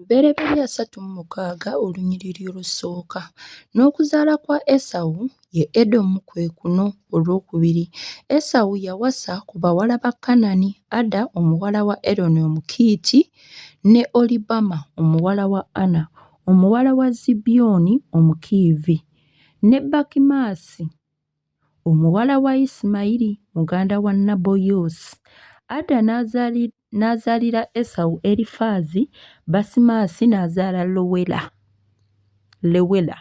Lubereberye asatu mu mukaaga olunyiriri olusooka, n'okuzaala kwa Esawu, ye Edomu, kwe kuno, olwokubiri. Esawu yawasa ku bawala ba Kanani, Ada omuwala wa Eroni Omukiiti, ne Olibama omuwala wa Ana omuwala wa Zibyoni Omukiivi, ne Bakimaasi Omuwala wa Isimayiri muganda wa Naboyosi. Ada n'azaalira Esawu Erifaazi, Basimaasi n'azaala Lowela, Lewela,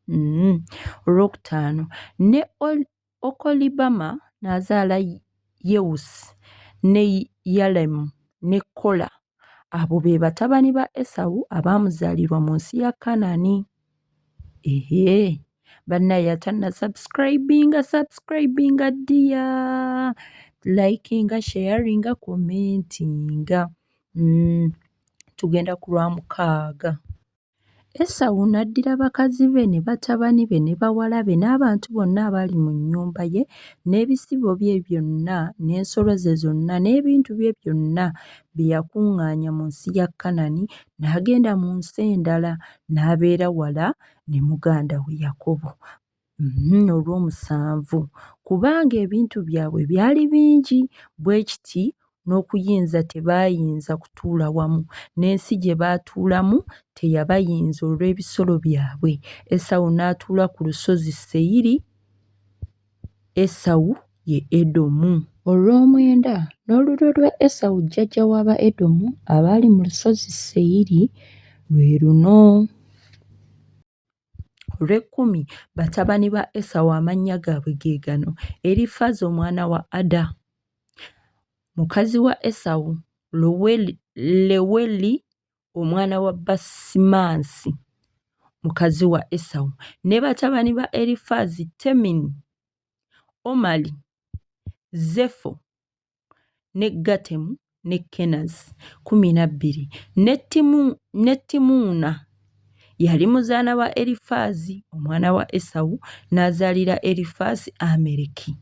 mm, olwokutaano, ne Okolibama n'azaala Yewusi ne Yalemu ne Kola. Abo be batabani ba Esawu abaamuzaalirwa mu nsi ya Kanaani. Ehe, bannaye atanna subscribinga subscribinga ddiya, likinga, sharinga, commentinga. Mm, tugenda ku lwa mukaaga. Esawu n'addira bakazi be ne batabani be ne bawala be n'abantu bonna abaali mu nnyumba ye n'ebisibo bye byonna n'ensolo ze zonna n'ebintu bye byonna bye yakuŋŋaanya mu nsi ya Kanani n'agenda mu nsi endala n'abeera wala ne muganda we Yakobo. Mhm, olw'omusanvu kubanga ebintu byabwe byali bingi bwe kiti n'okuyinza tebaayinza kutuula wamu n'ensi gye baatuulamu teyabayinza olw'ebisolo byabwe esawu n'atuula ku lusozi seyiri esawu ye edomu olw'omwenda n'olulyo lwa esawu jjajja w'aba edomu abaali mu lusozi seyiri lwe luno olw'ekkumi batabani ba esawu amannya gaabwe ge gano erifaaza omwana wa ada mukazi wa esawu leweli omwana wa basimansi mukazi wa esawu ne batabani ba erifaazi temini omali zefo ne Gatemu ne Kenazi kkumi na bbiri ne Timu ne Timuuna yali muzaana wa Erifaazi omwana wa Esawu n'azaalira Erifaazi Amereki.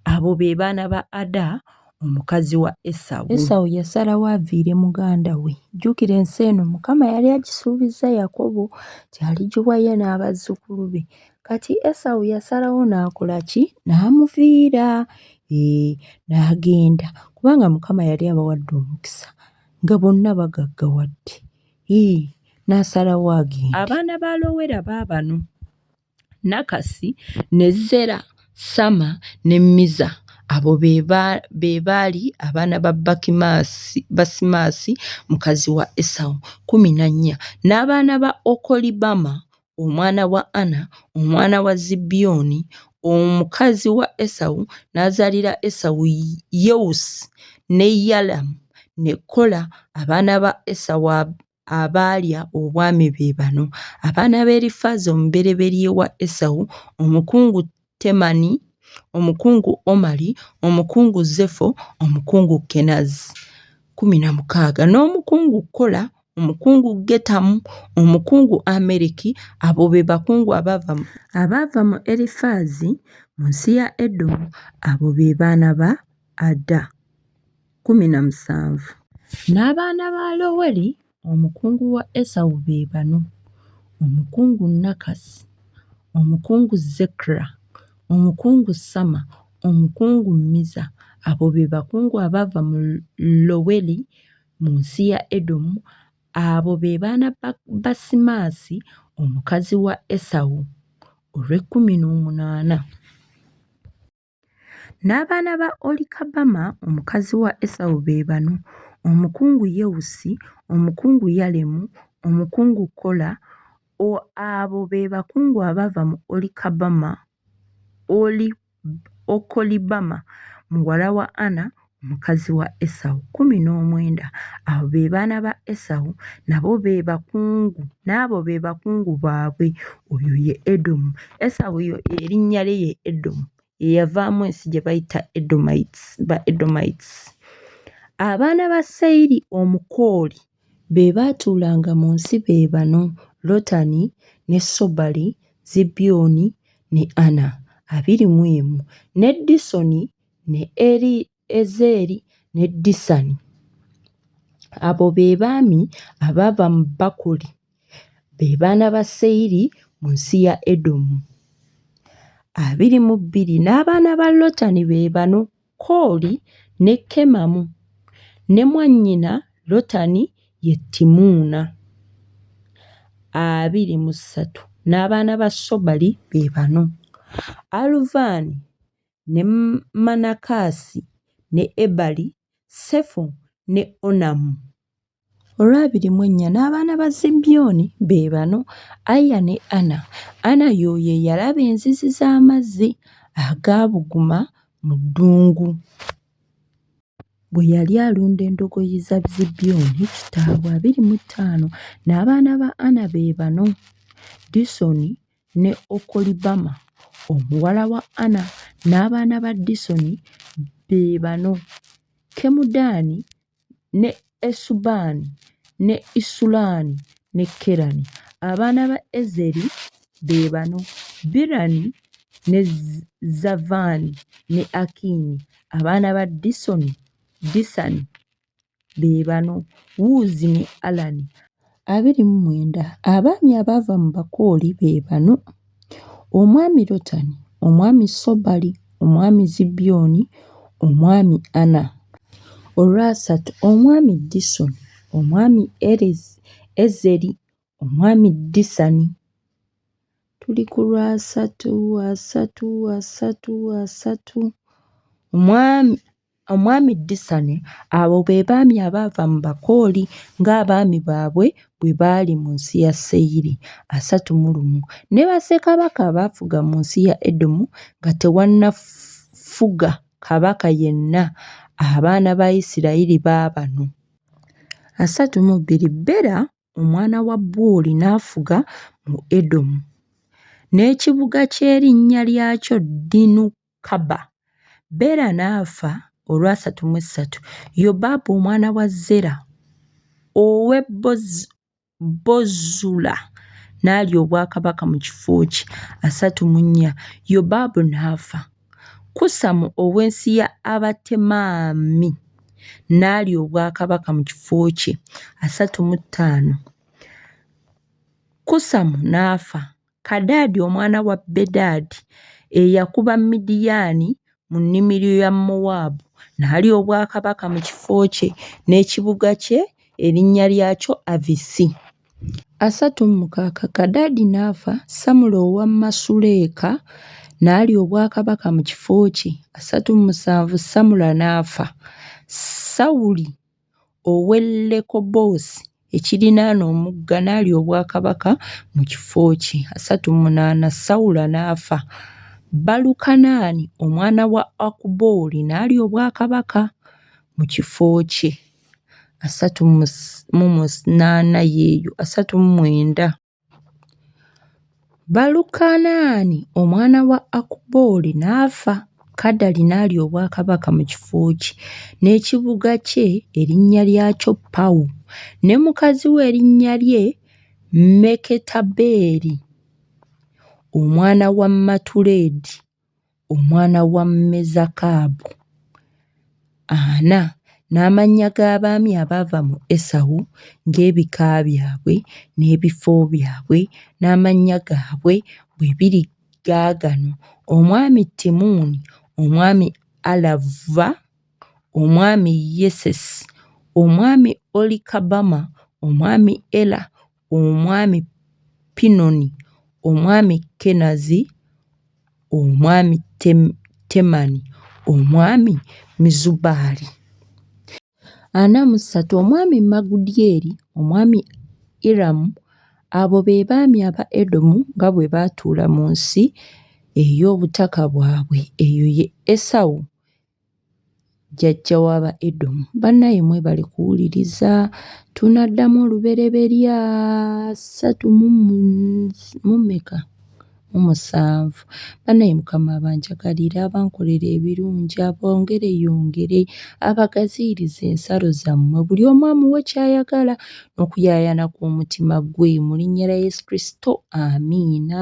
Abo be baana ba Ada omukazi wa Esawu. Esawu yasalawo aviire muganda we. Jjukira ensi eno Mukama yali agisuubizza Yakobo nti aligiwa ye n'abazzukulu be. Kati Esawu yasalawo n'akola ki? N'amuviira n'agenda kubanga Mukama yali abawadde omukisa nga bonna bagaggawadde n'asalawo agende. Abaana ba Lowera baabano, Nakasi ne Zera, Sama ne Miza. Abo be baali abaana ba Basimaasi mukazi wa Esawu, kkumi na nnya. N'abaana ba Okolibama. omwana wa Ana, omwana wa Zibyoni, omukazi wa Esawu, n'azaalira Esawu Yewusi ne Yalamu ne Kola. Abaana ba Esawu abaalya obwami be bano: abaana ba Erifaazi omubereberye wa Esawu, omukungu Temani, omukungu Omali, omukungu Zefo, omukungu Kenazi, kkumi na mukaaga, n'omukungu Kola, omukungu Getamu, omukungu Amereki, abo be bakungu abaava mu. Abaava mu Erifaazi mu nsi ya Edomu, abo be baana ba Ada, kkumi na musanvu. N'abaana ba Loweri Omukungu wa Esawu be bano, Omukungu Nakasi, Omukungu Zekra, Omukungu Sama, Omukungu Miza. Abo be bakungu abaava mu Loweri mu nsi ya Edomu. Abo be baana ba Basimaasi omukazi wa Esawu, olw'ekkumi n'omunaana. N'abaana ba Olikabama omukazi wa Esawu be bano, omukungu Yewusi, omukungu Yalemu, omukungu Kola, abo be bakungu abaava mu Okolibama muwala wa Ana, mukazi wa Esawu kkumi n'omwenda. Abo be baana ba Esawu, nabo be bakungu, n'abo be bakungu baabwe. Oyo ye Edomu. Esawu yo erinnya lye ye Edomu. Ye yavaamu ensi gye bayita Edomites, ba Edomites. Abaana ba Seyiri Omukooli be baatuulanga mu nsi be bano, Lotani ne Sobali, Zibyoni ne Ana, abiri mu emu, ne Disoni ne Eriezeri ne Disani. Abo be baami abaava mu Bakuli, be baana ba Seyiri mu nsi ya Edomu. Abiri mu bbiri n'abaana ba Lotani be bano, Kooli ne Kemamu, ne mwannyina Lotani ye Timuuna. Abiri mu ssatu n'abaana ba Sobali be bano, Aluvaani ne Manakasi, ne Ebali, Sefo ne Onamu. Olwabiri mu ennya n'abaana ba Zibyoni be bano, Aya ne Ana. Ana y'oyo eyalaba enzizi z'amazzi agaabuguma mu ddungu. Bwe yali alunda endogoyi za Zibyoni kitaabwe. Abiri mu ttaano n'abaana ba Ana be bano, Disoni, ne Okolibama omuwala wa Ana n'abaana ba Disoni be bano, Kemudaani ne Esubaani ne Isulaani ne Kerani. Abaana ba Ezeri be bano, Birani ne Zavaani ne Akiini. Abaana ba Disoni, Disani be bano Wuuzi ne Alani. abiri mu mwenda Abaami abaava mu Bakooli be bano, Omwami Lotani, Omwami Sobali, Omwami Zibyoni, Omwami Ana. Olwasatu Omwami Disoni, Omwami Ezeri, Omwami Disani. Tuli ku lwasatu, asatu, asatu, asatu. Omwami Omwami Disani Abo be baami abaava mu Bakooli ng'abaami baabwe bwe baali mu nsi ya Seyiri, asatu mu lumu, ne bassekabaka abaafuga mu nsi ya Edomu nga tewannafuga kabaka yenna. Abaana ba Isirayiri baabano. Asatu mu bbiri, Bera omwana wa Buuli n'afuga mu Edomu. N'ekibuga ky'erinnya lyakyo Dinukaba. Bera n'afa olwasatu mu essatu. Yobabu omwana wa Zera ow'e Bozula n'alya obwakabaka mu kifo kye. Asatu mu nnya, Yobabu n'afa. Kusamu ow'ensi ya Abatemaami n'alya obwakabaka mu kifo kye, asatu mu ttaano Kusamu n'afa, Kadaadi omwana wa Bedadi eyakuba Midiyaani mu nnimiro ya Mowaabu n'alya obwakabaka mu kifo kye, n'ekibuga kye erinnya lyakyo Avisi. Asatu mu mukaaga Kadadi n'afa, Samula owa Masuleka n'alya obwakabaka mu kifo kye. Asatu mu musanvu Samula n'afa, Sawuli ow'e Lekobosi ekirinaana omugga n'alya obwakabaka mu kifo kye. Asatu mu munaana Sawula n'afa, Balukanani omwana wa Akubooli n'alya obwakabaka mu kifo kye. asatu mu munaana yeeyo asatu mu mwenda Balukanaani omwana wa Akubooli n'afa, Kadali n'alya obwakabaka mu kifo kye, n'ekibuga kye erinnya lyakyo Pawu, ne mukazi we erinnya lye Meketabeeli omwana wa Matuledi. omwana wa Mezakabu, ana, n'amannya g'abaami abaava mu Esawu ng'ebika byabwe n'ebifo byabwe n'amannya gaabwe bwe biri gaagano: Omwami Timuuni, Omwami Alava, Omwami Yesesi, Omwami Olikabaama, Omwami Ela. Omwami Pinoni, Omwami Kenazi, Omwami Temani, Omwami Mizubaali. Ana mu ssatu, Omwami Magudyeri, Omwami Iramu. Abo be baami aba Edomu nga bwe baatuula mu nsi ey'obutaka bwabwe. Eyo ye Esawu jjajja wa ba edomu bannaye mwebale kuwuliriza tunaddamu olubereberya ssatu mumeka mu musanvu bannaye mukama abanjagalire abankolera ebirungi abongere yongere abagaziiriza ensalo zammwe buli omu amuwe kyayagala n'okuyaayana kw'omutima gwe mu linnya lya yesu kristo amiina